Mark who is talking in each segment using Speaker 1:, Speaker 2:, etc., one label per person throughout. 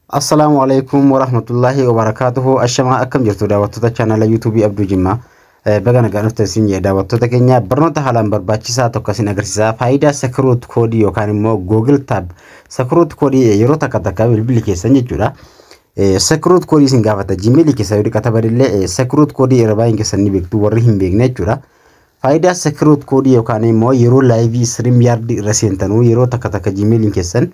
Speaker 1: Assalaamu alaikum warahmatullahi wabarakatuhu ashamaa akkam jirtu daawwattoota chaanala yuutuubii Abduu Jimmaa Eh, baga nagaan dhuftan isin jedha daawwattoota keenya barnoota haalaan barbaachisaa tokko isin agarsiisa faayidaa sakiruut koodii yookaan immoo google tab sakiruut koodii eh, yeroo takka takka bilbilli keessan jechuudha Eh, sakiruut koodii isin gaafata jimeelii keessa yoo dhiqata badillee eh, sakiruut koodii irra baay'een keessan ni beektu warri hin beekne jechuudha Faayidaa Secret Code yookaan immoo yeroo live stream yard irra seentanu yeroo takka takka Gmail keessan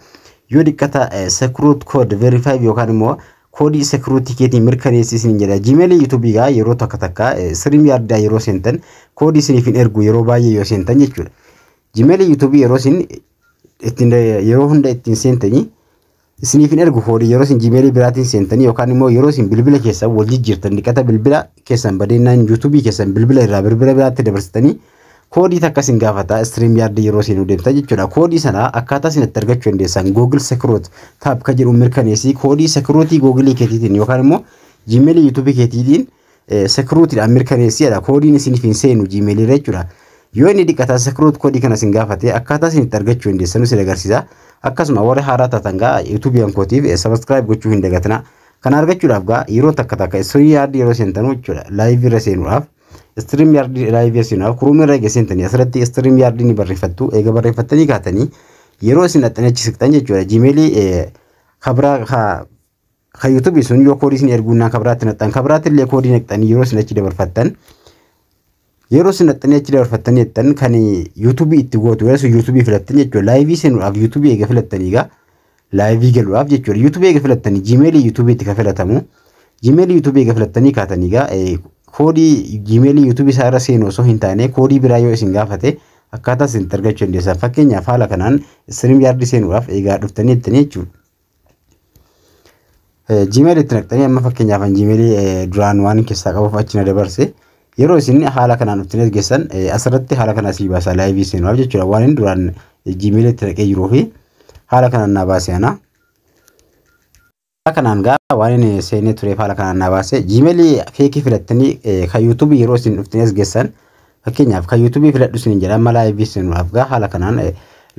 Speaker 1: yoo diqqata secret code verify yookaan immoo koodii security keetiin mirkaneessi isin jedha. Gmail YouTube gaa yeroo takka takka stream yard yeroo seentan koodii isiniif hin ergu yeroo baay'ee yoo seentan jechuudha. Gmail YouTube yeroo isin ittiin yeroo hunda ittiin seentanii isiniif hin ergu koodii yeroo isin jimeelii biraatiin seentanii yookaan immoo yeroo isin bilbila keessan wal jijjiirtan dhiqata bilbila keessan badeennaan yuutuubii keessan bilbila irraa bilbila biraatti dabarsitanii koodii takka isin gaafata istiriim yaardii yeroo isin deemtan jechuudha koodii sana akkaataa isin itti argachuu dandeessan googil sekiroot taab ka jedhu mirkaneessii koodii sekiruutii googilii keetiitiin yookaan immoo jimeelii yuutuubii keetiitiin sekiruutidhaan mirkaneessi jedha. Koodiin isiniif hin seenu Gmail irra jechuudha. Yoo inni diqqataa sekiruut koodii kana isin gaafate akkaataa isin itti argachuu hin deessanu isin agarsiisa. Akkasuma warri haaraa taatan gaa yuutuubiyan kootiif sabaskiraayib gochuu hin dagatina. Kana argachuudhaaf gaa yeroo takka takka istorii yaardii yeroo seentanu jechuudha. Laayivii irra seenuudhaaf. Istiriim yaardii laayivii irra seenuudhaaf kuruumii irra eega seentanii asirratti istiriim yaardii ni barreeffattu. Eega barreeffattanii kaatanii yeroo isin dhaxxanii achi siqxan jechuudha. Gmailii kabraa Kan YouTube sun yoo koodii isin erguu naan kabiraatti naqxan kabiraatti illee koodii naqxanii yeroo isin achi dabarfattan yeroo isin naqxanii achi dabarfattan jettan kan YouTube itti gootu yoo sun YouTube filattan jechuudha laayivii seenuudhaaf YouTube eega filattanii egaa laayivii galuudhaaf jechuudha YouTube eega filattanii Gmail YouTube itti kan filatamu Gmail YouTube eega filattanii kaatanii egaa koodii Gmail YouTube isaa irra seenu osoo hin taane koodii biraa yoo isin gaafate akkaataa isin itti argachuu dandeessan fakkeenyaaf haala kanaan istiriim yaardii seenuudhaaf egaa dhuftanii jettanii jechuudha. Gmail itti naqxanii amma fakkeenyaaf an Gmail duraan waan keessaa qabuuf achi na dabarse yeroo isin haala kanaan ittiin ergessan asirratti haala kana sii baasa laayivii seenuudhaaf jechuudha waan inni duraan Gmail itti naqee jiruu fi haala kanaan naa baase ana. Haala kanaan gaa waan inni seenee tureef haala kanaan naa baase Gmail feekii filattanii kan yuutuubii yeroo isin ittiin ergessan Fakkeenyaaf kan YouTube filadhu isiniin jedha amma live isin afgaa haala kanaan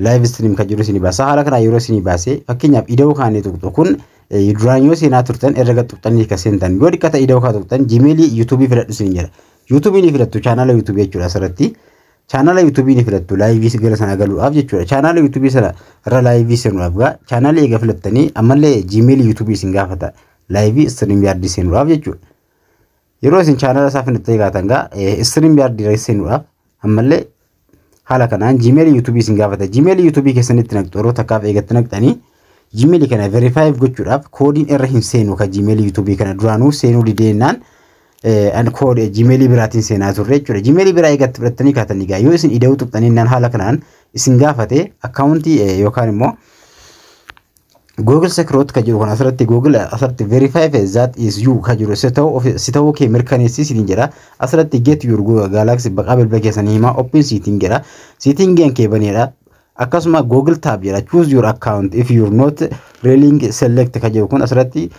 Speaker 1: live stream kan jiru isinii baasa haala kanaan yeroo isinii baase fakkeenyaaf ida'uu kaanii tuqxu kun duraan yoo seenaa turtan irra gad tuqxanii kan seentan yoo dhikkata ida'uu kaa tuqxan Gmail YouTube filadhu isiniin jedha YouTube ni filattu chaanala YouTube jechuudha asirratti chaanala YouTube ni filattu live gara sana galuudhaaf jechuudha chaanala YouTube sana irra live seenuudhaaf gaa chaanala eega filattanii ammallee Gmail YouTube isin gaafata live stream yaaddi seenuudhaaf jechuudha Yeroo isin chaanala isaa finittee gaatan gaa istiriim yaardii irra seenuudhaaf ammallee haala kanaan jiimeelii yuutuubii isin gaafata. Jiimeelii yuutuubii keessanitti naqxu yeroo takkaaf eegatti naqxanii jiimeelii kana verifaayiif gochuudhaaf koodiin irra hin seenu ka jiimeelii yuutuubii kana duraanuu seenuu dideennaan an koodee jiimeelii biraatiin seenaa turre jechuudha. Jiimeelii biraa eegatti fudhattanii kaatanii gaa yoo isin ida'uu tuqxanii naan haala kanaan isin gaafate akkaawuntii yookaan immoo Google Secret ka jiru kan asirratti Google asirratti verify fe that is you ka jiru si ta'u ofi- si ta'uu kee mirkaneessi siin jedha asirratti get your Google Galaxy baqaa bilbila keessan himaa open setting jedha setting an kee baneedha akkasuma Google tab jedha choose your account if you're not railing select ka jiru kun asirratti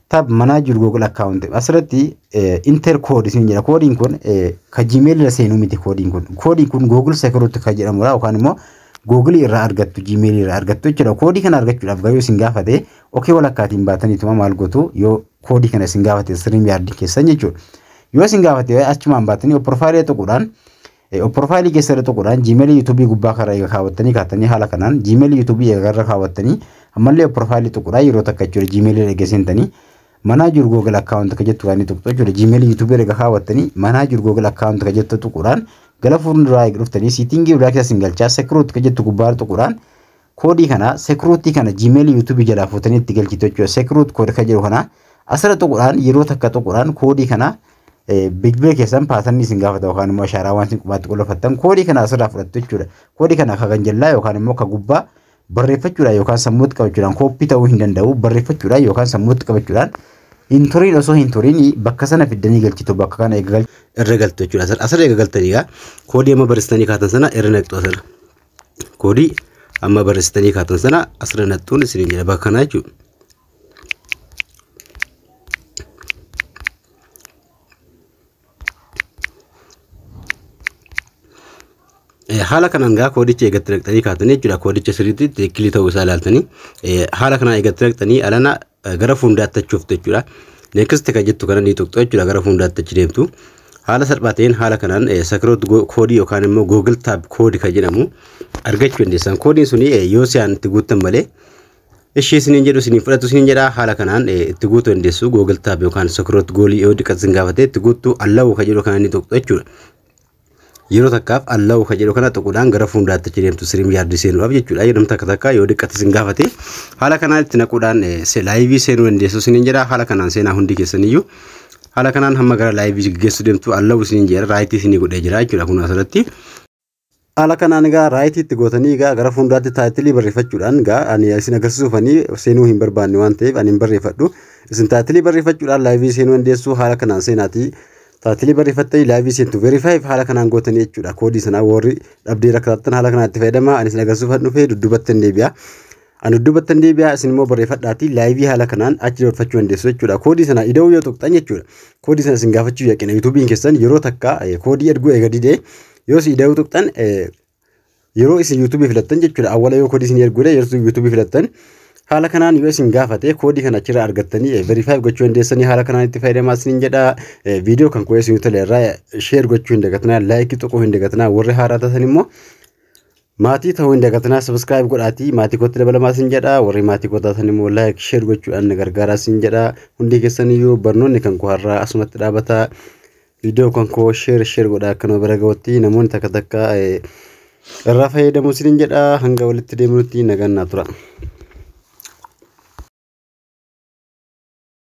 Speaker 1: tab manage your Google account asirratti eh, enter code siin jedha koodiin kun eh, ka gmail irra seenuu miti koodiin kun koodiin kun Google Secret ka jedhamudha yookaan immoo Google irraa argattu, Gmail irraa argattu jechuudha. Koodii kana argachuudhaaf garuu isin gaafate okee walakkaatiin baataniituma maal gootu yoo koodii kana isin gaafate siriim yaardii keessan jechuudha. Yoo isin gaafate achumaan baatanii opporfaayilii tuquudhaan opporfaayilii keessa irra tuquudhaan Gmail yuutuubii gubbaa kana egaa kaawwattanii kaatanii haala kanaan Gmail yuutuubii egaa irra kaawwattanii ammallee opporfaayilii tuquudhaan yeroo takka jechuudha Gmail irra egaa seentanii Manage your Google account ka jettu kan inni tuqxu jechuudha. Gmail YouTube erga kaawwattanii manage your Google account ka jettu tuquudhaan gara fuulduraa eega dhuftanii siitingii biraa keessa sin galchaa security ka jettu gubbaarra tuquudhaan koodii kana security kana Gmail YouTube jalaa fuutanii itti galchitu jechuudha. Security code ka jedhu kana asirra tuquudhaan yeroo takka tuquudhaan koodii kana bilbila keessan paatanii isin gaafata yookaan immoo ashaaraa waan isin qubaatti qulleeffattan koodii kana asirraa fudhattu jechuudha. Koodii kana akka kan jallaa yookaan immoo akka gubbaa Barreeffachuudhaan yookaan sammuutti qabachuudhaan kooppii ta'uu hin danda'u. Barreeffachuudhaan yookaan sammuutti qabachuudhaan hin turiin osoo hin turiin bakka sana fiddanii galchitu bakka kana eega galchitu. Irra galtu jechuudha asirra asirra eega galtanii egaa koodii amma barreessitanii kaatan sana irra naqxu asirra. Koodii amma barreessitanii kaatan sana asirra naqxuun isin jedha bakka kanaa jechuudha. haala kanaan gaa koodicha eegatti naqxanii kaatanii jechuudha koodicha sirriitti tikkilii ta'uu isaa ilaaltanii haala kanaan eegatti naqxanii alana gara fuundaatti achuuf jechuudha neekist kan jettu kana ni tuqxu jechuudha gara fuundaatti achi deemtu haala salphaa ta'een haala kanaan sakiroot koodii yookaan immoo googil taab koodi kan jedhamu argachuu dandeessan koodiin suni yoo si'aan itti guuttan malee Ishii isiniin jedhu isiniin fudhatu isiniin jedha haala kanaan eh, itti guutuu dandeessu Google Tab yookaan Sokroot goolii yoo diqqatti isin gaafatee itti guuttuu allawuu ka jedhu kana ni tuqxu jechuudha. Yeroo takkaaf allawuu ka jedhu kana tuquudhaan gara fuulduraatti achi deemtu siriim yaardii seenuudhaaf jechuudha. Yeroo takka takka yoo diqqatti isin gaafate haala kanaan itti naquudhaan eh, se- laayivii seenuu dandeessu isiniin jedha haala kanaan seenaa hundi keessaniyyuu. Haala kanaan hamma gara laayivii geggeessuu deemtu allawuu isiniin jedha raayitii isinii godhee jira jechuudha kun asirratti. Haala kanaan egaa raayitii itti gootanii egaa gara fuulduraatti taayitilii barreeffachuudhaan egaa ani isin agarsiisuuf ani seenuu hin barbaanne waan ta'eef ani hin barreeffadhu. Isin taayitilii barreeffachuudhaan laayivii seenuu dandeessu haala kanaan seenaatii taayitilii barreeffattanii laayivii seentu verifaayiif haala kanaan gootanii jechuudha koodii sanaa warri dhabdee rakkataattan haala kanaan itti fayyadamaa ani isin agarsiisuuf dhufee dudduubatti hin deebi'a. Ani duddubattan deebi'aa isin immoo barreeffadhaatii laayivii haala kanaan achi dabarfachuu dandeessu jechuudha. Koodii sana ida'uu yoo tuqxan jechuudha. Koodii sana isin gaafachuu yaqina yuutuubiin keessan yeroo takka eh, koodii erguu eega didee yoo isin ida'uu tuqxan eh, yeroo isin yuutuubii filattan jechuudha. Awwala yoo koodii isin erguudha yeroo isin yuutuubii filattan haala kanaan yoo isin gaafate koodii kana achirraa argattanii eh, verify gochuu dandeessanii haala kanaan itti fayyadamaa isinin jedha. Eh, Viidiyoo kan qo'ee isin toleerraa sheer gochuu hin dagatinaa laayikii tuquu hin dagatinaa warri haaraa taatan immoo Maatii ta'uu hin dagatinaa subscribe godhaatii maatii kootti dabalamaa sin jedha warri maatii koo taatan immoo like share gochuudhaan na gargaaraa sin jedha hundi keessan iyyuu barnoonni kan koo har'aa asumatti dhaabata viidiyoo kan koo share share godhaa akka nama bira ga'utti namoonni takka takka eh, irraa fayyadamu sin jedha hanga walitti deemnutti nagaan naa tura.